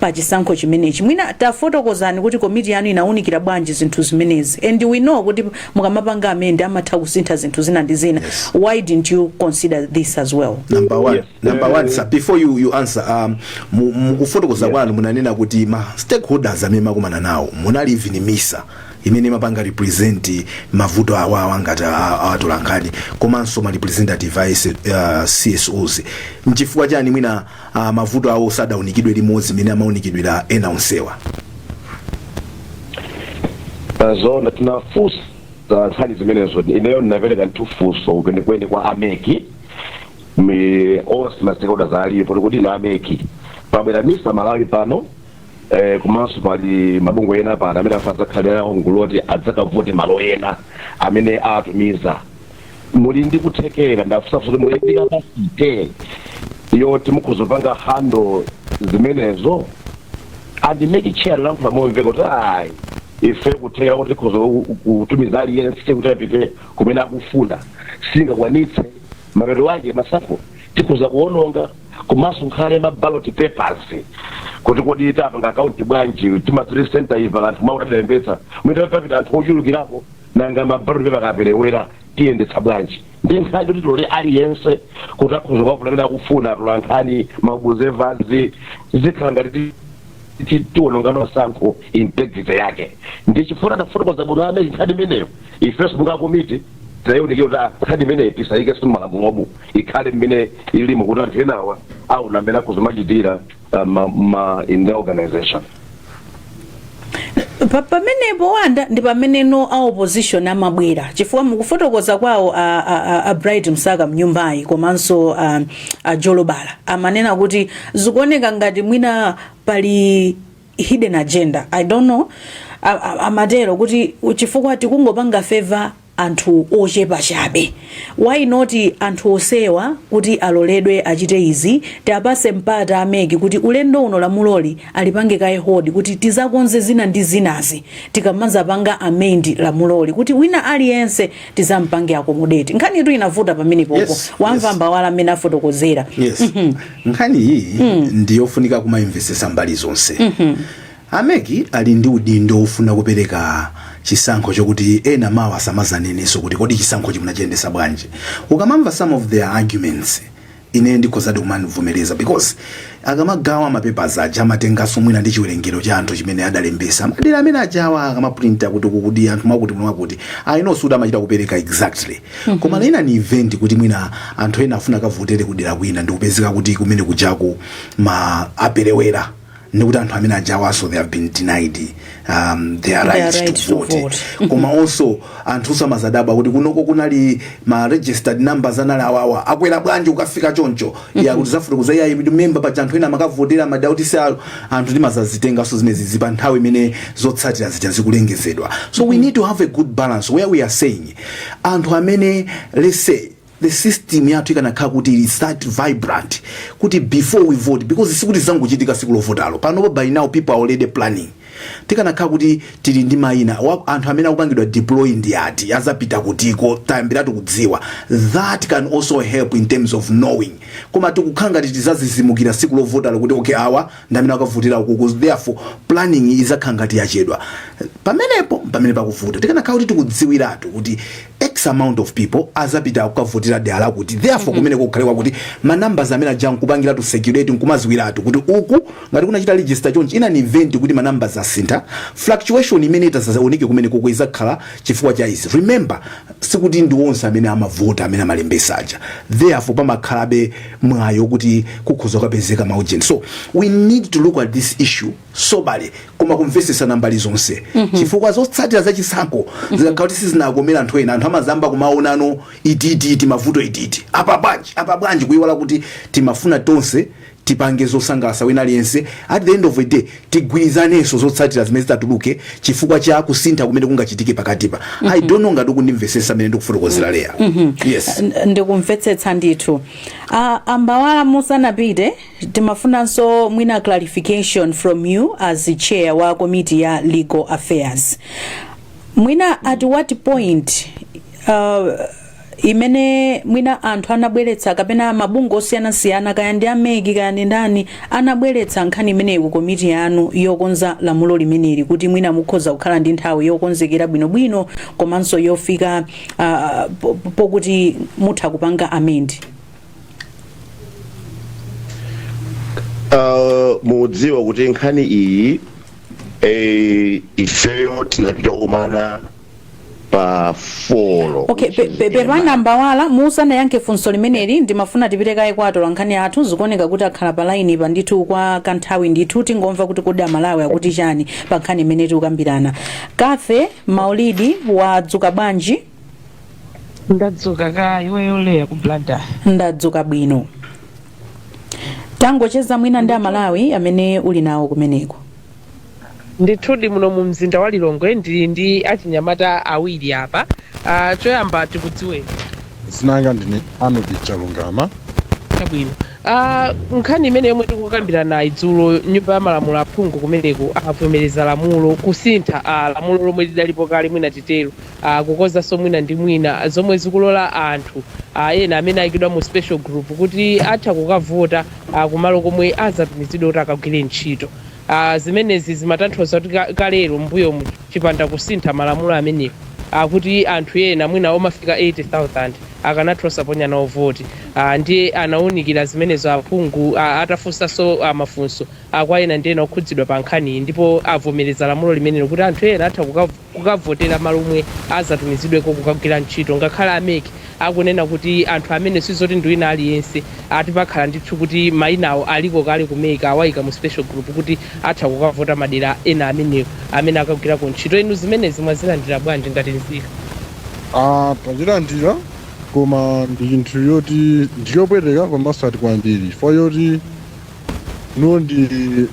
pa chisankho chimenechi. Mwina tafotokozani kuti komiti yanu inaunikira bwanji zinthu zimenezi and we know kuti mukamapanga amend amatha kusintha zinthu zina ndi zina Yes. why didn't you consider this as well? number one Yes. number
one sir before you you answer um mu- mukufotokoza kwanu munanena kuti ma stakeholders amene makumana nawo munali even misa imene imapanga represent mavuto awawa ngati a- atolankhani komanso ma representative a S- uh, csos nchifukwa chani mwina a mavuto awo sadaunikidwe limodzi mmene amaunikidwira ena
onsewa zona tinafunsa nkhani zimenezo ineyo ndinapereka ndithu funso kwenikweni kwa a MEC mi onse ma stakeholders alipo kuti kodi na a MEC pabwera misa malawi pano eh, komanso pali mabungwe ena pano amene afa adzakhalira nawo mgulu loti adzakavote malo ena amene awatumiza muli ndi kuthekera ndafunsa kuti muli ndi capacity yoti mukhoza kupanga handle zimenezo and MEC chair analankhula momveka kuti ayi ife kuthekera kuti tikhoza ku- kutumiza aliyense kuti apite kumene akufuna sitingakwanitse mapeto ake masankho tikhoza kuononga komanso ngakhale ma ballot papers kuti kodi tipanga account bwanji timathiri center iva anthu atalembetsa mwina papita anthu ochulukirapo nanga ma ballot paper akaperewera tiyendetsa bwanji ndi nkhani yoti tilole aliyense kuti akhoza kuwavula amene akufuna atolankhani maobservers izikhala ngati ti- ti- tiwononga masankho integrity yake ndi chifukwa adafotokoza bwino a mec nkhani imeneyo ifenso monga komiti tayionera kuti ah, nkhani imeneyi tisayikenso mmalamulomu ikhale mmene ilimo kuti anthu enawa aona mmene akhoza kumachitira uh, ma, ma, in the
organization. Pa- pamenepo wanda ndi pamene no a opposition amabwera chifukwa mukufotokoza kwawo a, a, a, a bright msaka mnyumbayi komanso a, a jolobala amanena kuti zikuoneka ngati mwina pali hidden agenda i don't know A- a- amatero kuti chifukwa tikungopanga favor anthu ochepa chabe why not anthu onsewa kuti aloledwe achite izi tiwapase mpata a mec kuti ulendo uno lamuloli alipange kaye hold kuti tizakonze zina ndi zinazi tikamazapanga amend lamuloli kuti wina aliyense tizampange accommodate nkhanitu inavuta pamenepopo Yes, wamva yes. mbali imene afotokozera yes nkhani
iyi ndiyofunika kumayimvesesa mbali zonse A mec ali ndi udindo wofuna kupereka chisankho chokuti ena mawa asamazanenenso kuti kodi chisankhochi munachiyendesa bwanji. Ukamamva some of their arguments ineyo ndikhozadi kumavomereza because akamagawa ma papers aja amatenganso mwina ndi chiwerengero cha anthu chimene adalembesa madera amene ajawa akamaprinta kuti uku kuli anthu mwakuti muno mwakuti I know sikuti amachita kupereka exactly koma in an event kuti mwina anthu ena afuna akavotere kudera kwina ndikupezeka kuti kumene kujaku mwina aperewera ndikuti anthu amene ajawaso they have been denied um, their Their rights right to to vote vote. koma also anthu asamazadabwa kuti kunoko kunali ma registered numbers anali awawa akwera bwanji kukafika choncho ya kuti zafuta kuza yayi member pa anthu ena amakavotera madauti si ayo anthu timazazitenganso zimenezizi pa nthawi imene zotsatira zija zikulengezedwa so we need to have a good balance where we are saying anthu amene let's say the system yathu ikanakhala kuti ili that vibrant kuti before we vote because sikuti zangochitika siku lovotalo panopa by now people are already planning tikanakhala kuti tili ndi mayina wa- anthu amene akupangidwa deploy ndi ati azapita kutiko tayambiratu kudziwa that can also help in terms of knowing koma tikukhala ngati tizazizimukira siku lovotalo kuti okay awa ndi amene akavotera ukuku therefore planning izakhala ngati yachedwa pamenepo pamene pakuvuta tikanakhala kuti tikudziwiratu kuti X amount of people azapita kukavotera dela lakuti therefore kumeneko kukhale kwakuti ma numbers amene aja nkupangiratu circulate nkumaziwiratu kuti uku ngati kunachita register chonchi in an event kuti ma numbers asintha fluctuation imene itazaoneke kumenekoko izakhala chifukwa cha izi remember sikuti ndi onse amene amavota amene amalembesa aja therefore pamakhalabe mwayo kuti kukhoza kukapezeka ma agent so we need to look at this issue soberly koma kumvesesana mbali zonse chifukwa zotsatira za chisankho zikakhala kuti sizinakomera anthu ena anthu amazamba kumaonano ititi timavuto ititi apa bwanji apa bwanji kuiwala kuti timafuna tonse tipange zosangalasa wina aliyense at the end of the day tigwirizanenso zotsatira zimene zitatuluke chifukwa cha kusintha kumene kungachitike pakatipa i don't know ngati ukundimvesesa mmene ndikufotokozera Leah yes N- ndikumvetsetsa
ndithu Ah, a Mbawala musanapite Timafunanso mwina clarification from you as the chair wa komiti ya legal affairs. Mwina at what point uh, imene mwina anthu anabweretsa kapena mabungwe osiyanasiyana kaya ndi a MEC kaya ndi ndani anabweretsa nkhani imeneyi ku komiti yanu yokonza lamulo limeneli kuti mwina mukhoza kukhala ndi nthawi yokonzekera bwinobwino komanso yofika uh, po- pokuti mutha kupanga amend
Uh, mudziwa kuti nkhani iyi eh, ifeyo tinapita kukumana pa floor okay pe- pe-
pepani a Mbawala musanayankhe funso limeneli ndimafuna tipite kaye kwa atola nkhani athu zikuoneka kuti akhala pa laini pa ndithu kwa kanthawi ndithu tingomva kuti kodi aMalawi akuti chani pa nkhani imene tikukambirana Cathy Maulidi wadzuka bwanji
Ndadzuka kaya iweyo Leah ku Blantyre? Ndadzuka
bwino. Tangocheza mwina ndi Amalawi amene uli nawo kumeneko.
Ndithudi muno mu mzinda wa Lilongwe ndili ndi achinyamata awiri apa. Ah,
choyamba tikudziweni. Dzina langa
ndine
Arnold Chalungama. Chabwino.
Ah, nkhani imene yomwe tikukambiranayi dzulo nyumba ya malamulo aphungu kumeneko avomereza lamulo kusintha ah, lamulo lomwe lidalipo kale mwina titero a kukonzanso mwina ndi mwina, zomwe zikulola anthu a ena amene ayikidwa mu special group kuti atha kukavota a kumalo komwe azatumizidwe kuti akagwire ntchito. A zimenezi zimatanthauza kuti kalero m'mbuyomu chipanda kusintha malamulo amenewa ndi kuti anthu ena mwina omafika 80,000 akanatha osaponya nawo voti. A ndiye anawunikira zimenezo aphungu a, atafunsanso a mafunso a kwa ena ndi ena okhudzidwa pa nkhaniyi ndipo avomereza lamulo limenelo kuti anthu ena atha kukavota. kukavotera malo omwe azatumizidweko kukagwira ntchito ngakhale a MEC akunena kuti anthu amene sizoti ndi wina aliyense ati pakhala ndithu kuti maina awo aliko kale ku MEC awaika mu special group kuti atha kukavota madera ena amenewo amene akagwirako ntchito inu zimenezi mwazilandira bwanji ngati nzika Ah,
tazilandira koma ndi chinthu choti ndiyopweteka komanso ati kwambiri chifukwa choti Ilo ndi ndi-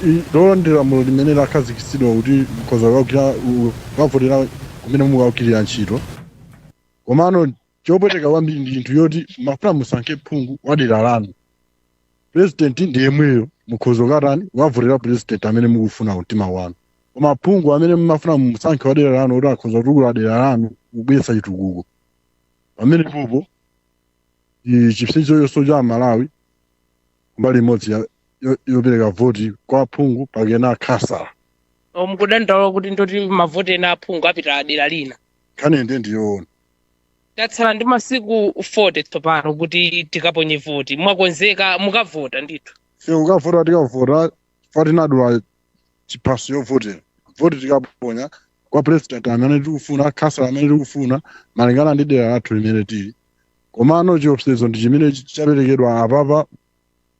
i- ilolo ndi lamulo limene lakhazikitsidwa kuti mkhoza kukagwira u- kukavotera kumene mukagwirira ntchito komano chopweteka kwambiri ndi chinthu choti mumafuna musankhe phungu wa dera lanu purezidenti ndi yemweyo mukhoza kukatani kukavotera purezidenti amene mukufuna mtima wanu koma phungu amene mumafuna musankhe wa dera lanu kuti akhoza kutukula dera lanu kubweretsa chitukuko pamenepopo chipsinjo chonse cha amalawi mbali imodzi ya- yo- yopereka voti kwa aphungu kapena akhansala O, mukudandaula
kuti ndiye kuti mavoti ena aphungu apita dera lina nkhani inde
ndiyoona
tatsala ndi masiku 40 tsopano kuti tikaponye voti mwakonzeka mukavota ndithu Ee kukavota
tikavota chifukwa tinadula chiphaso chovotera voti tikaponya kwa president amene tikufuna khansala amene tikufuna malingana ndi dera lathu limene tili komano chiopsezo ndi chimene ch- chaperekedwa apapa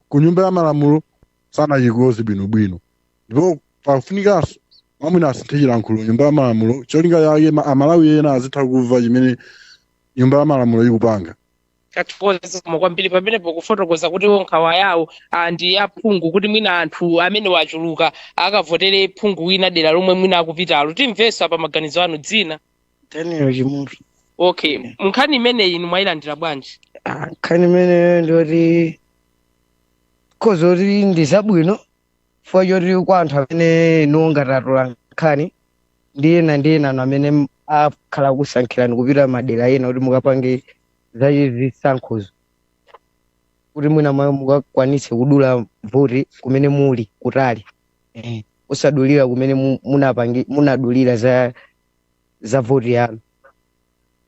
ku nyumba ya malamulo sanachikoze bwinobwino ndipo pafunikanso mwamwina asinthe chilankhulo nyumba ya malamulo cholinga chake ma- amalawi ena azitha kumva chimene nyumba ya malamulo ikupanga
tathokoza koma kwambiri pamenepo kufotokoza kuti iwo nkhawa yawo ah, ndi ya aphungu kuti mwina anthu amene achuluka akavotere phungu wina dera lomwe mwina akupitalo timvenso apa maganizo anu dzina Daniel
Chimutu
okay nkhani imeneyi inu mwayilandira bwanji Ah, nkhani imeneyo
ndiyoti ikhoza kuti ndi zabwino chifukwa choti kwa anthu amene inuwo ngati atola nkhani ndi ena ndi ena anu amene m- akhala akusankhirani kupita madera ena kuti mukapange za chisankhozo kuti mwina mwayo mukakwanitse kudula voti kumene muli kutali eh, osadulira kumene mu- munapangi munadulira za za voti yanu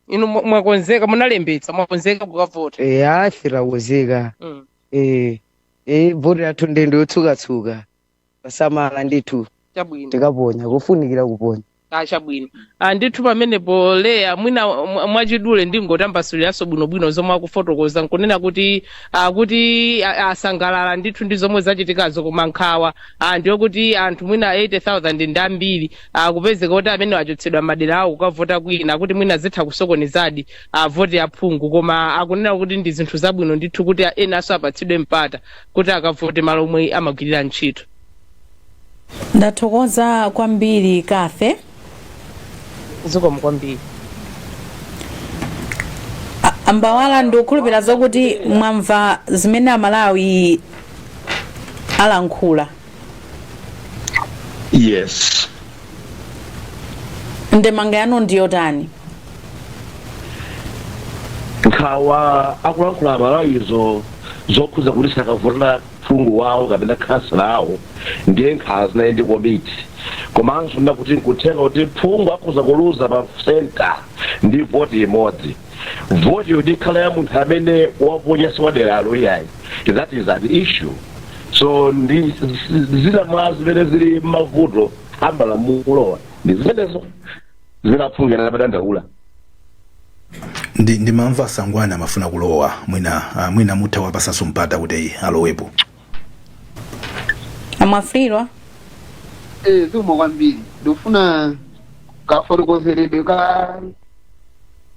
inu mwa- mwakonzeka munalembetsa mwakonzeka kukavota Eh, ife
takonzeka Mm. Eh, eh, voti yathu ndi ndende yotsukatsuka posamala ndithu chabwino tikaponya kufunikira kuponya Ah, chabwino
Ah, ndithu pamenepo Leya mwina mwa- mwachidule ndingotambasuliranso bwinobwino zomwe akufotokoza nkunena kuti ah, kuti ah, asangalala ndithu ndi zomwe zachitikazo koma nkhawa ah, ndiyo kuti anthu mwina 80000 ndi ambiri a kupezeka kuti amene wachotsedwa madera awo kukavota kwina, akuti mwina zitha kusokonezadi a voti ya phungu, koma akunena kuti ndi zinthu zabwino ndithu kuti a- enanso apatsidwe mpata kuti akavote malo omwe amagwirira ntchito.
ndathokoza kwambiri Cathy
zikomo
kwambiri a Mbawala ndikukhulupirira zokuti mwamva zimene amalawi alankhula Yes. ndemanga yanu
ndiyotani Nkhawa akuyankhula amalawizo zokhudza kuti sakavotera phungu wawo kapena khansala wawo ndiye nkhawa zinali ndi komiti komanso ndakuti nkutheka kuti phungu akhoza kuluza pa senta ndi voti imodzi voti yoti ikhala ya munthu amene waponya siwaderalo iyayi that is an issue so ndi zina mwa zimene zili mavuto amalamulowa ndi zimenezo zina aphungu anadandaula ndi
ndimamva a Sangwani amafuna kulowa mwina ah, mwina mutawapasanso mpata kuti alowepo
a Mwafulirwa
Eh, zikomo kwambiri ndikufuna kafotokozeredwe ka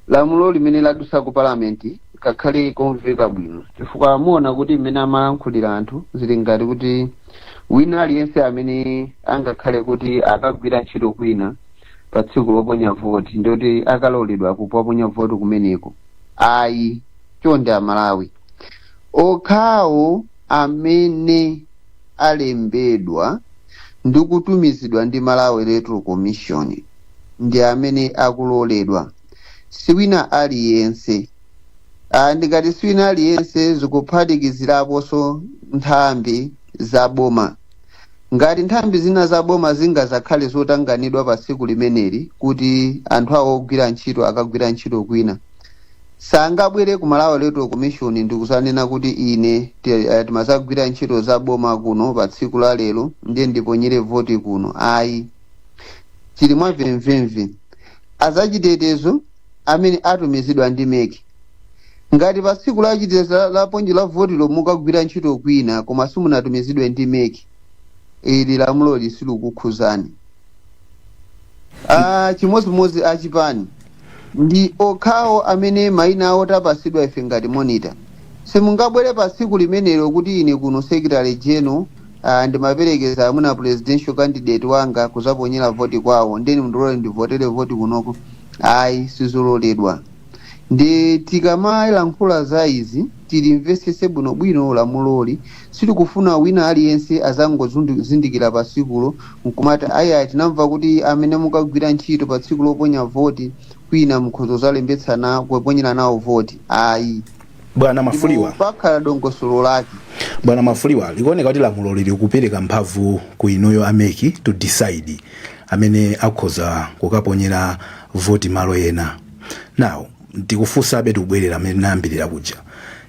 lamulo limene ladusa ku palamenti kakhale komveka bwino chifukwa muona kuti mmene amalankhulira anthu zili ngati kuti wina aliyense amene angakhale kuti akagwira ntchito kwina pa tsiku loponya voti ndikuti akaloledwa kuponya voti kumeneko ayi chonde amalawi Okhawo amene alembedwa ndi kutumizidwa ndi Malawi Electoral Commission ndi amene akuloledwa, si wina aliyense. Ah, ndikati si wina aliyense zikuphatikiziraponso nthambi za boma. Ngati nthambi zina za boma zingazakhale zotanganidwa pa tsiku limeneli kuti anthu awo ogwira ntchito akagwira ntchito kwina, sangabwere ku malawi electoral commission ndikuzanena kuti ine ti- eh, timazagwira ntchito za boma kuno pa tsiku la lero ndiye ndiponyere voti kuno ayi zili mwa mvemvemve azachitetezo amene atumizidwa ndi MEC ngati pa tsiku la chitetezo la- loponyera voti lomwe mukagwira ntchito kwina koma simunatumizidwe ndi MEC ili lamuloli silikukhuzani ah, chimodzimodzi achipani Ndi okhawo amene maina awo tapasidwa ife ngati monitor. Simungabwere pa tsiku limenelo kuti ine kuno Secretary General ah ndimaperekeza amwene Presidential candidate wanga kuzaponyera voti kwawo ndiye mundilore ndivotere voti kunoko. Ayi sizololedwa. Ndiye tikamalankhula za izi. tilimvetsetse bwinobwino lamuloli. Sitikufuna wina aliyense adzangozindikira pa tsikulo n'kumati, Ayai, tinamva kuti amene mukagwira ntchito pa tsiku loponya voti kwina mukhoza kudzalembetsa nawo, kuponyera nawo voti. Ayi. Ndipo
pakhala
dongosolo lake. Bwana Mwafulirwa,
likuoneka kuti lamuloli likupereka mphamvu ku inuyo a mec to decide amene akhoza kukaponyera voti malo ena. Now, ndikufunsabe tikubwerera mmene tinayambira kuja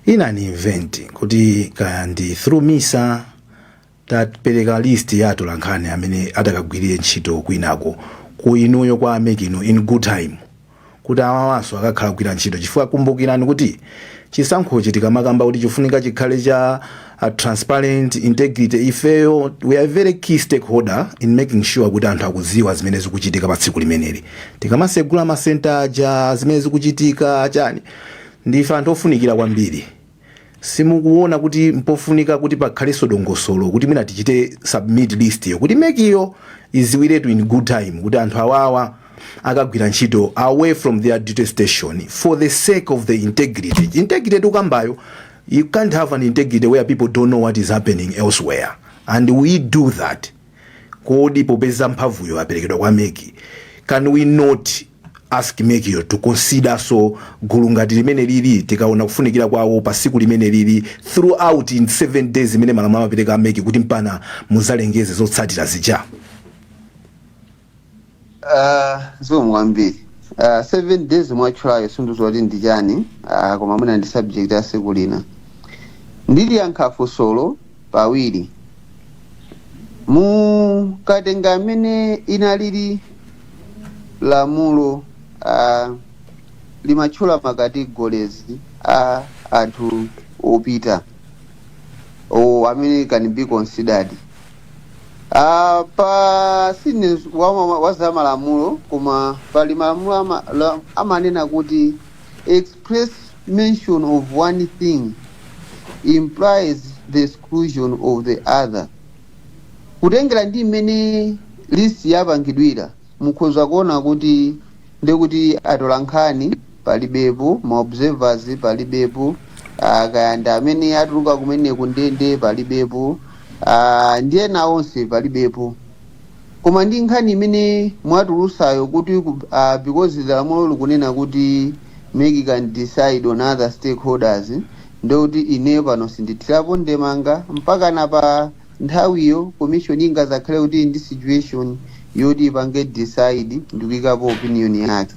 in an event kuti kaya ndi through misa tapereka list ya atolankhani amene atakagwirire ntchito kwinako ku inuyo kwa a mec inu in good time kuti awawanso akakhala kugwira ntchito chifukwa kumbukirani kuti chisankhochi tikamakamba kuti chifunika chikhale cha a transparent integrity ifeyo we are very key stakeholder in making sure kuti anthu akudziwa zimene zikuchitika pa tsiku limeneli tikamasegula masenta aja zimene zikuchitika chani ndife anthu ofunikira kwambiri simukuona kuti mpofunika kuti pakhalenso dongosolo kuti mwina tichite submit list yo kuti mec yo idziwiretu in good time kuti anthu awawa akagwira ntchito away from their duty station for the sake of the integrity integrity tikukambayo You can't have an integrity where people don't know what is happening elsewhere and we do that. Kodi popeza mphamvuyo yaperekedwa kwa mec can we not ask mec to considernso gulu ngati limeneli tikaona kufunikira kwawo pa tsiku limeneli throughout in seven days imene malamulo amapereka a mec kuti mpaka mudzalengeze zotsatira zija
Uh, zikomo kwambiri uh, seven days mwatchulayo sindidziwa kuti ndi chani uh, koma mwina ndi subject ya tsiku lina ndiliyankha funsolo pawiri mukatenga mmene linalili lamulo uh, limatchula ma categories a anthu opita oo amene can be considered Ah, pa sine wa, wa, wa za malamulo koma pali malamulo ama, la- amanena kuti express mention of one thing implies the exclusion of the other kutengera ndi mmene list yapangidwira mukhoza kuona kuti ndiye kuti atolankhani palibepo, ma observers palibepo, ah, kaya ndi amene atuluka kumene ku ndende palibepo, ah, ndi ena onse palibepo. Koma ndi nkhani imene mwatulutsayo kuti ku- ah, because the lamulo likunena kuti mec can decide on other stakeholders ndiye kuti ineyo pano sindithirapo ndemanga mpakana pa nthawiyo commission ingadzakhale kuti ndi situation yoti ipange decide ndikuyikapo opinion yake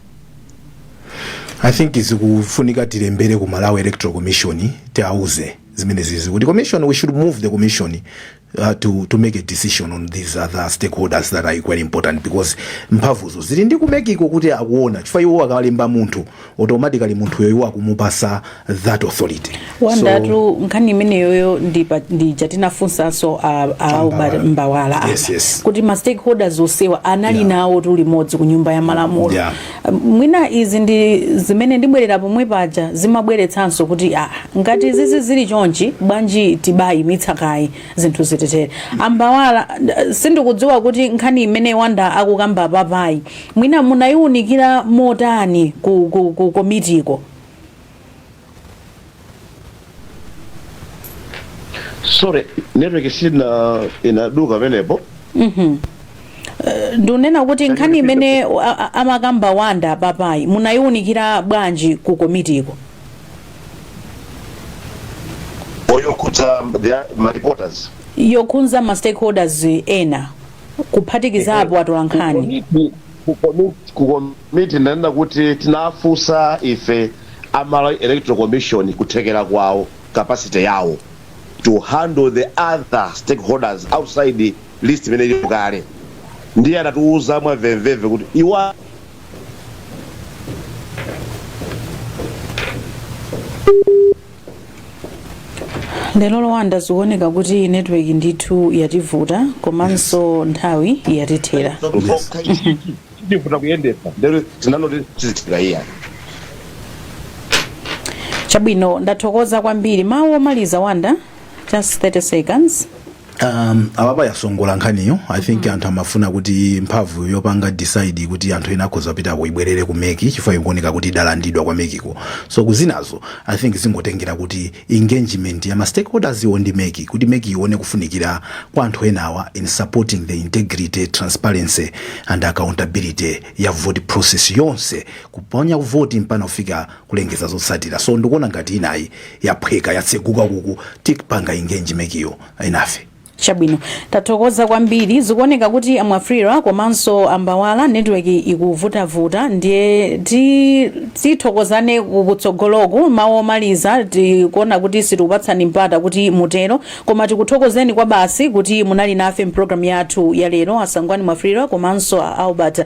i think zikufunika tilembere ku malawi electoral commission tiauze zimene zizi kuti commission we should move the commission uh, to, to make a decision on these other stakeholders that are equally important because mphamvuzo zili ndi kumekiko kuti akuwuona chifukwa iwo akalemba munthu automatically munthuyo iwo akumupasa that authority wanda
tu nkhani imeneyiyo ndi pa- ndi ija tinafunsanso a- a uba- mbawala apa. Yes, yes.
kuti ma stakeholders
onsewa anali Yeah. nawo tu limodzi ku nyumba ya malamulo Yeah. mwina izi ndi zimene ndibwerera pomwe paja zimabweretsanso kuti ah, ngati izizi zili chonchi bwanji tibayimitsa kayi zinthu zitetere ambawala eh, sindikudziwa kuti nkhani imene wanda akukamba papayi mwina munayiwunikira motani ku, ku, ku komitiko
sorry network yanga inaduka pamenepo
ndunena kuti nkhani imene a- a- amakamba wanda papayi munayiwunikira bwanji ku
komitiko yokhudza the- ma reporters yokhunza ma
stakeholders ena kuphatikizapo atolankhani Komiti- ku komiti ku komiti
ndanena kuti tinafunsa ife a Malawi Electoral Commission kuthekera kwawo capacity yawo to handle the other stakeholders outside list imene ilipo kale ndiye anatiuza mwamvemvemve kuti iwo
lero wanda zikuoneka kuti network ndithu yativuta komanso nthawi yatithera ndifuta
kuyendetsa ndero tinanoti tizithira
iya chabwino ndathokoza kwambiri mawu omaliza wanda just 30 seconds um,
apapa yasongola nkhaniyo i think anthu amafuna kuti mphamvu yopanga decide kuti anthu ena akhoza kupitako ibwerere ku meki chifukwa ikuoneka kuti idalandidwa kwa mekiko so kwinako i think zingotengera kuti engagement ya mastakeholders iwo ndi meki kuti meki ione kufunikira kwa anthu enawa in supporting the integrity transparency and accountability ya voting process yonse kuponya voti mpaka kufika kulengeza zotsatira so ndikuona ngati nkhaniyi yaphweka yatseguka kuti tipange engage mekiyo enafe
chabwino tathokoza kwambiri zikuoneka kuti amwafulirwa komanso ambawala network ikuvutavuta ndiye ti- tithokozane ku- kutsogoloku mawu omaliza tikuona kuti sitikupatsani mpata kuti mutero koma tikuthokozeni kwabasi kuti munali nafe mpulogalamu yathu ya lero asangwani mwafulirwa komanso a albert